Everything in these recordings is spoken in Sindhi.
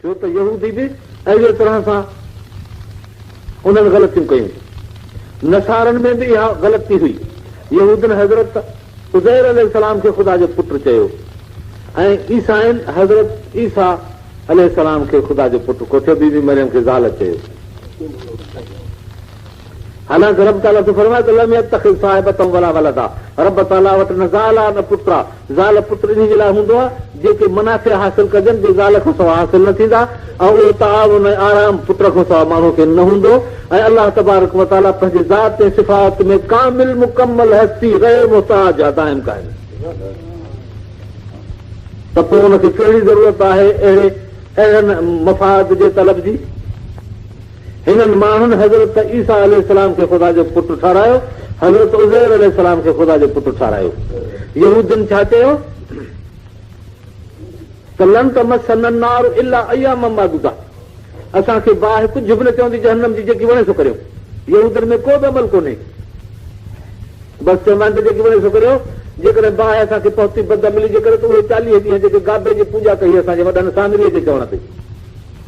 ڇو ته يهودي به اهڙيء طرح سان انهن غلطيون ڪيون. نصارن ۾ به اها غلطي هئي. يهودين حضرت عزير عليه السلام کي خدا جو پٽ چيو ۽ عيسائين حضرت عيسيٰ عليه السلام کي خدا جو پٽ ڪوٺيو، بي بي مريم کي زال چيو. حالانڪ رب تعاليٰ ٿو فرمائي ته لم يتخذ صاحبة ولا ولدا رب تعاليٰ وٽ نه زال آ نه پٽ آ. زال پٽ انهي جي لاء هوندو آهي، جيڪي منافع حاصل ڪجن، جي زال کان سوا حاصل نه ٿيندا ۽ اهو تعاون ۽ آرام پٽ کان سوا ماڻهوء کي نه هوندو ۽ الله تبارڪ و تعالي پنهنجي ذات ۽ صفات ۾ ڪامل مڪمل هستي غير محتاج آهي دائم قائم ته پوء ان کي ڪهڙي ضرورت آهي اهڙي اهڙن مفاد جي طلب جي؟ هنن ماڻهن حضرت عيسيٰ عليه السلام کي خدا جو پٽ ٺهرايو، حضرت عزير عليه السلام کي خدا جو پٽ ٺهرايو. يهودين ڇا چيو ته لن تمسنا النار الا اياما معدودة اسان کي باهه ڪجهه به نه چوندي جهنم جي جيڪي وڻي سو ڪريون. يهودين ۾ ڪو به عمل ڪونهي. بس چوندا آهن ته جيڪي وڻي سو ڪريو. جيڪڏهن باهه اسان کي پهتي بدعملي جي ڪري ته اهي چاليهه ڏينهن جيڪي گابي جي پوڄا ڪئي اسان جي وڏن سامريء جي چوڻ تي.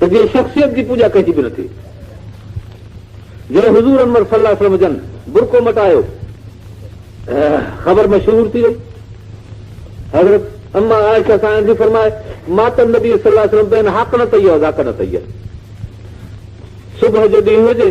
ته جنهن شخصيت جي پوڄا ڪجي به نٿي جنهن حضور انور صلي الله عليه وسلم جن برقو مٽايو خبر مشهور ٿي وئي حضرت اما عائشه سان جي فرمائي مات النبي صلي الله عليه وسلم بين حق نه تيو ذاڪ نه تيو صبح جو ڏينهن هجي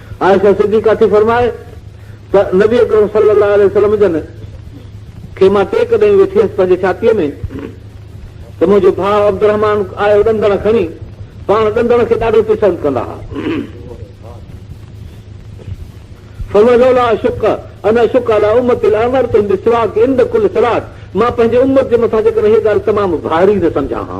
عائشه صديقه ٿي فرمائي ته نبي اڪرم صلي الله عليه وسلم جن کي مان ٽيڪ ڏئي ويٺي هيس پنهنجي ڇاتيء ۾ ته منهنجو ڀاء عبدالرحمان آيو ڏندڻ کڻي پاڻ ڏندڻ کي ڏاڍو پسند ڪندا هئا فوجولا شڪ ان شڪ الا امت الامر تم بسواق عند كل صلات مان پنهنجي امت جي مٿان جيڪڏهن هي ڳالهه تمام ڀاري نه سمجهان ها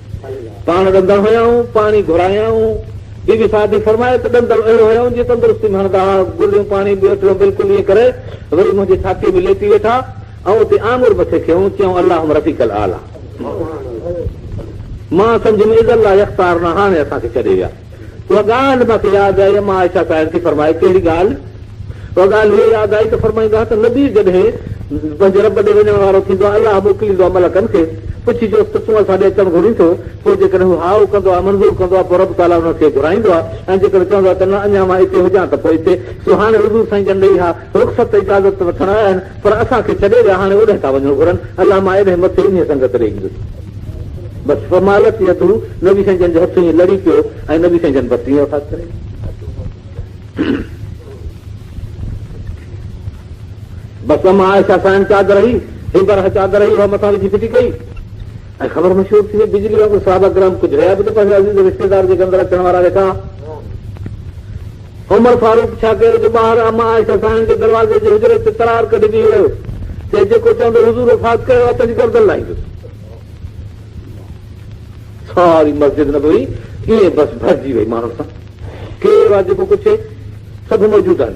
پاڻ ڏندڙ هيائون، پاڻ ئي گهرايائون. بي بي سعدي فرمائي ته ڏندڙ اهڙو هيائون جيئن تندرستي ۾ هڻندا ها، گليون پاڻي به اهڙو بلڪل ائين ڪري وري منهنجي ڇاتيء ۾ ليٽي ويٺا ۽ اتي آڱر مٿي ڪيائون، چيائون اللهم رفيق الاعليٰ. مان سمجهيم اذا لا يختارنا هاڻي اسان کي ڇڏي ويا. اها ڳالهه مان کي ياد آئي، اما عائشه صاحب ٿي فرمائي، ڪهڙي ڳالهه؟ اها ڳالهه هيء ياد آئي ته فرمائيندا هئا ته نبي جڏهن پنهنجي رب ڏي وڃڻ وارو ٿيندو آهي، الله موڪليندو آهي ملڪن کي، پڇجوس ته تون اسان ڏي اچڻ گهرين ٿو؟ پوء جيڪڏهن هو هائو کندو آهي، منظور ڪندو آهي، پوء رب تعاليٰ انهن کي گهرائيندو آهي ۽ جيڪڏهن چوندو آهي ته نه، اڃا مان اتي هجان ته پوء اتي. سو هاڻي حضور سائين جن ڏئي اها. رخصت اجازت وٺڻ آيا آهن پر اسان کي ڇڏي ويا هاڻي اوڏهه ٿا وڃڻ گهرن الله مان ايڏهه مٿي انهي سنگت ڏي ايندس بس فمالت يده نبي سائين جن جو هٿ ائين لڙي پيو ۽ نبي سائين جن بس ائين وفات ڪري بس اما عائشه سائن چادر هي هي برهه چادر هي اها مٿان وجهي ڦٽي ڪئي ۽ خبر مشهور ٿي وئي بجلي وانگر صحابه گرام ڪجهه رهيا به ته پنهنجي عزيز رشتيدار جي گندر اچڻ وارا ويٺا عمر فاروق ڇا ڪيو جو ٻاهر اما عائشه ساڻن جي دروازي جي حجري تي ترار ڪڍي بيهي رهيو. چي جيڪو چوندو حضور وفات ڪيو آهي تنهنجي گردن لائيندس. ساري مسجد نبوي ائين بس ڀرجي وئي ماڻهن سان. ڪير آهي جيڪو پڇي؟ سڀ موجود آهن.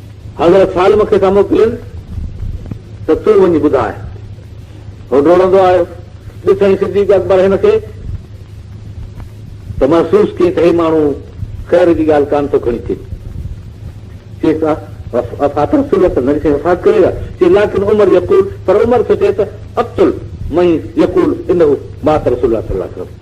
حضرت سالم کي ٿا موڪلين ته تون وڃي ٻڌاء. هو ڊوڙندو آيو، ڏٺائين صديق اڪبر هن کي ته محسوس ڪيائين ته هي ماڻهو خير جي ڳالهه ڪانه ٿو کڻي اچي. چيس آ وفات رسول الله نه ڏٺائين وفات ڪري ويا. چيس لاڪن عمر يقول پر عمر ٿو چئي ته اقتل من يقول انه مات رسول الله صلي الله عليه وسلم.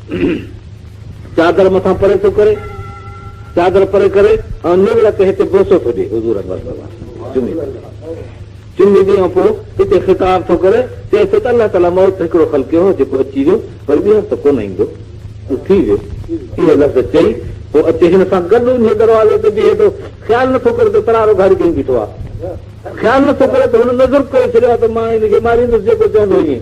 چادر مٿان پري ٿو ڪري چادر پري ڪري ۽ نور تي هتي بوسو ٿو ڏي حضور اڪبر صلي الله چمي چمي ڏي ۽ پوء هتي خطاب ٿو ڪري چئي ٿو ته الله تعالی موت هڪڙو خلقيو هو جيڪو اچي ويو پر ٻيهر ته ڪونه ايندو ٿي ويو اهي لفظ چئي پوء اچي هن سان گڏ ان دروازي تي بيهي ٿو خيال نٿو ڪري ته ترارو گهاڙي کي بيٺو آهي خيال نٿو ڪري ته هن نظر ڪري ڇڏيو آهي ته مان هن کي ماريندس جيڪو چوندو ائين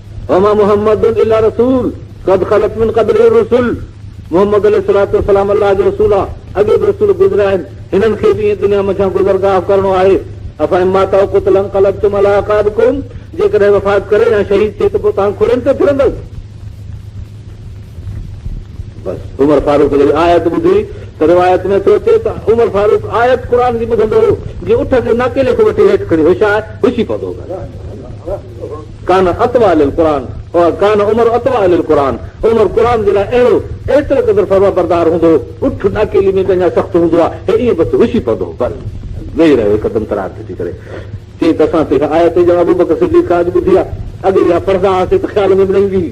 وما محمد الا رسول قد خلت من قبله الرسل محمد عليه الصلاه والسلام الله جو رسول آ اڳي به رسول گذريا آهن هنن کي به ائين دنيا منجهان گذرگاهه ڪرڻو آهي افهم مات او قتل انقلبتم على عقابكم جيڪڏهن وفات ڪري يا شهيد ٿي ته پوء توهان کڙين تي ڦرندو بس عمر فاروق جي آيت ٻڌي ته روايت ۾ ٿو اچي ته عمر فاروق آيت قرآن جي ٻڌندو هو جي اٺ کي ناڪيلي کي وٺي هيٺ کڻي هوشيار هوشي پوندو هو ڪان اطوع للقرآن و ڪان عمر اطوع للقرآن، عمر قرآن جي لاء اهڙو ايترو قدر فرمانبردار هوندو هو، اٺ ڏاڪيلي ۾ ڪنهن جا سخت هوندو ها، هي ائين بس وسي پوندو هو، پر ويهي رهيو هڪدم ترار ٿي ٿي ڪري، چيائين ته اسان ته اها آيت ڄڻ ابوبڪر صديق کان اڄ ٻڌي آ، اڳي اها پڙهندا هئاسين ته خيال ۾ به نه ايندي هئي.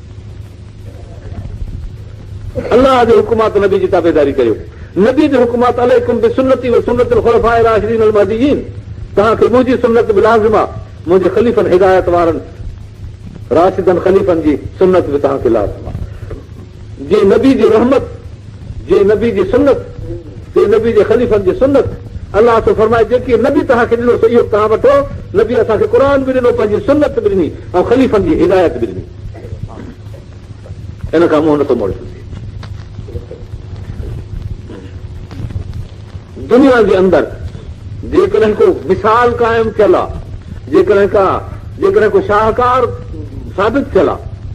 الله جي حڪمات نبي جي تابعداري ڪريو. نبي جو حڪم آهي ته عليڪم بسنتي وسنت الخلفاء الراشدين المهديين توهان کي منهنجي سنت به لازم آهي منهنجي خليفن هدايت وارن راشدن خليفن جي سنت به توهان کي لازم آهي جي نبي جي رحمت جي نبي جي سنت، جي نبي جي خليفن جي سنت، الله ٿو فرمائي جيڪي نبي توهان کي ڏنو سو اهو به توهان وٺو، نبي اسان کي قرآن به ڏنو پنهنجي سنت به ڏني ۽ خليفن جي هدايت به ڏني ان کان منهن نٿو موڙي سگهجي. دنيا جي اندر جيڪڏهن ڪو مثال قائم ٿيل آ جيڪڏهن ڪا جيڪڏهن ڪو شاهڪار ثابت ٿيل آ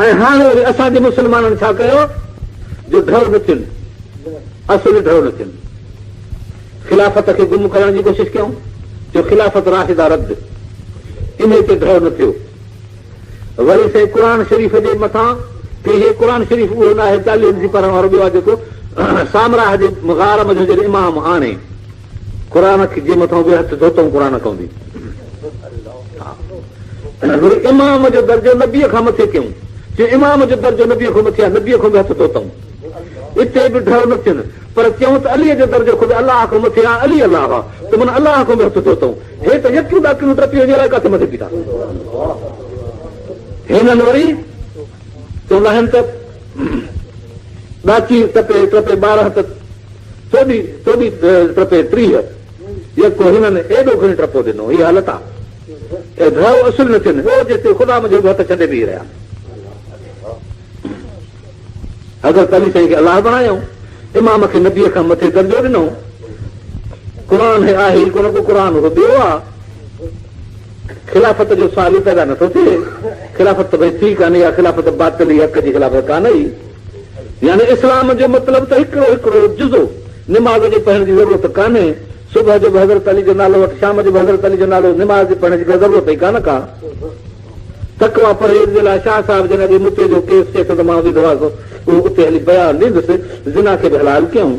۽ هاڻي وري اسان جي مسلمانن ڇا ڪيو جو ڍؤ نه ٿين اصل ڍؤ نه ٿين خلافت کي گم ڪرڻ جي ڪوشش ڪيون جو خلافت راشدا رد ان تي ڍؤ نه ٿيو وري سائين قرآن شريف جي مٿان ڪي هي قرآن شريف اهو ناهي چاليهن جي پڙهڻ وارو ٻيو آهي جيڪو سامراهه جي غار مجھو جي امام آڻي قرآن کي جي مٿان به هٿ ڌوتئون قرآن ڪوندي وري امام جو درجو نبي کان مٿي ڪيون چي امام جو درجو نبي کان مٿي آهي نبي کان به هٿ ڌوتئون اتي به ڍر نه ٿين پر چيون ته علي جو درجو خود الله کان مٿي آهي علي الله آ ته من الله کان به هٿ ڌوتئون هي ته يڪيون ڏاڪيون ٽپي وڃي رهي ڪاٿي مٿي بيٺا هنن وري چوندا آهن ته ڏاچي ٽپي ٽپي ٻارهن ته چوڏهين چوڏهين ٽپي ٽيهه يڪو هنن ايڏو گهڻي ٽپو ڏنو هي حالت آ اي ڀائو اصل نه ٿين هو جيسين خدا منهنجي هڪ هٿ ڇڏي بيهي رهيا حضرت علي سائين کي الله بڻايو امام کي نبي کان مٿي درجو ڏنو قرآن هي آهي ڪونه ڪو قرآن هو ٻيو آ خلافت جو سوال ئي پيدا نٿو ٿئي، خلافت ته ڀئي ٿي ڪانه، اها خلافت باطلي حق جي خلافت ڪانه ئي، يعني اسلام جو مطلب ته هڪڙو هڪڙو جزو، نماز جي پڙهڻ جي ضرورت ڪانهي، صبح جو به حضرت علي جو نالو وٺ، شام جو به حضرت علي جو نالو، نماز جي پڙهڻ جي ڪا ضرورت ئي ڪانه ڪا. تقويٰ پرهيز جي لاء شاهه صاحب جن اڳي متي جو ڪيس چئي ٿو ته مان اميد هئس اهو اتي هلي بيان ڏيندس، زنا کي به حلال ڪيائون.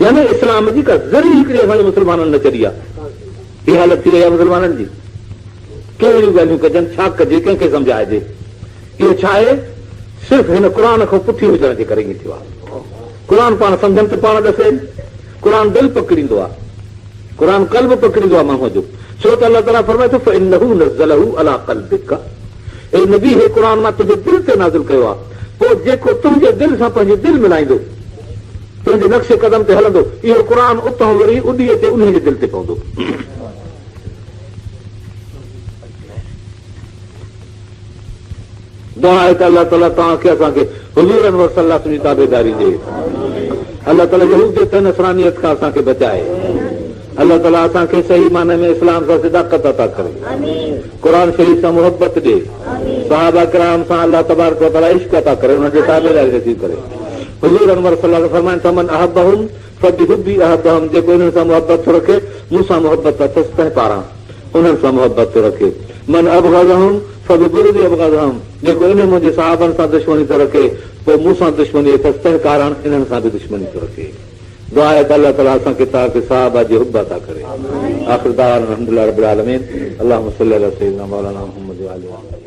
يعني اسلام جي ڪا ذري هڪڙي اسان جي مسلمانن نه چڏي آهي. هي حالت ٿي وئي آهي مسلمانن جي. ڪيئن اهڙيون ڳالهيون ڪجن، ڇا ڪجي، ڪنهن کي سمجهائجي. اهو ڇا آهي؟ صرف هن قرآن کان پٺي هجڻ جي ڪري ائين ٿيو آهي. قرآن پاڻ سمجهن ته پاڻ ڏسي. قرآن دل پڪڙيندو آهي. قرآن قلب پڪڙيندو آهي ماڻهوء جو. ڇو ته الله تعاليٰ فرمائي ٿو فإنه نزله علي قلبک. اي نبي! هي قرآن مان تنهنجي دل تي نازل ڪيو آهي، پوء جيڪو تنهنجي دل سان پنهنجي دل ملائيندو، تنهنجي نقش قدم تي هلندو، اهو قرآن اتان وري اڏي اچي انهيء جي دل تي پوندو. دعا آهي ته الله تعاليٰ توهان کي اسان کي حضور انور صلي الله عليه وسلم جي تابعداري ڏي. الله تعاليٰ يهوديت ۽ نصرانيت کان اسان کي بچائي. الله تعالي اسان کي صحيح معني ۾ اسلام سان صداقت عطا ڪري قرآن شريف سان محبت ڏي صحابه ڪرام سان الله تبارڪ وتعالي عشق عطا ڪري انهن جي تابعداري نصيب ڪري حضور انور صلي الله عليه وسلم فرمائن ٿا من احبهم فبحبي احبهم جيڪو انهن سان محبت ٿو رکي مون سان محبت اٿس تنهن پاران انهن سان محبت ٿو رکي من ابغضهم فببغضي ابغضهم جيڪو انهن منهنجي صحابن سان دشمني ٿو رکي پوء مون سان دشمني اٿس تنهن ڪارڻ انهن سان به دشمني ٿو رکي دعا آهي ته الله تعالي اسان کي تان کي صحابه جي حب عطا ڪري آخر دعوانا الحمدلله رب العالمين اللهم صلي علي سيدنا مولانا محمد وآله وصحبه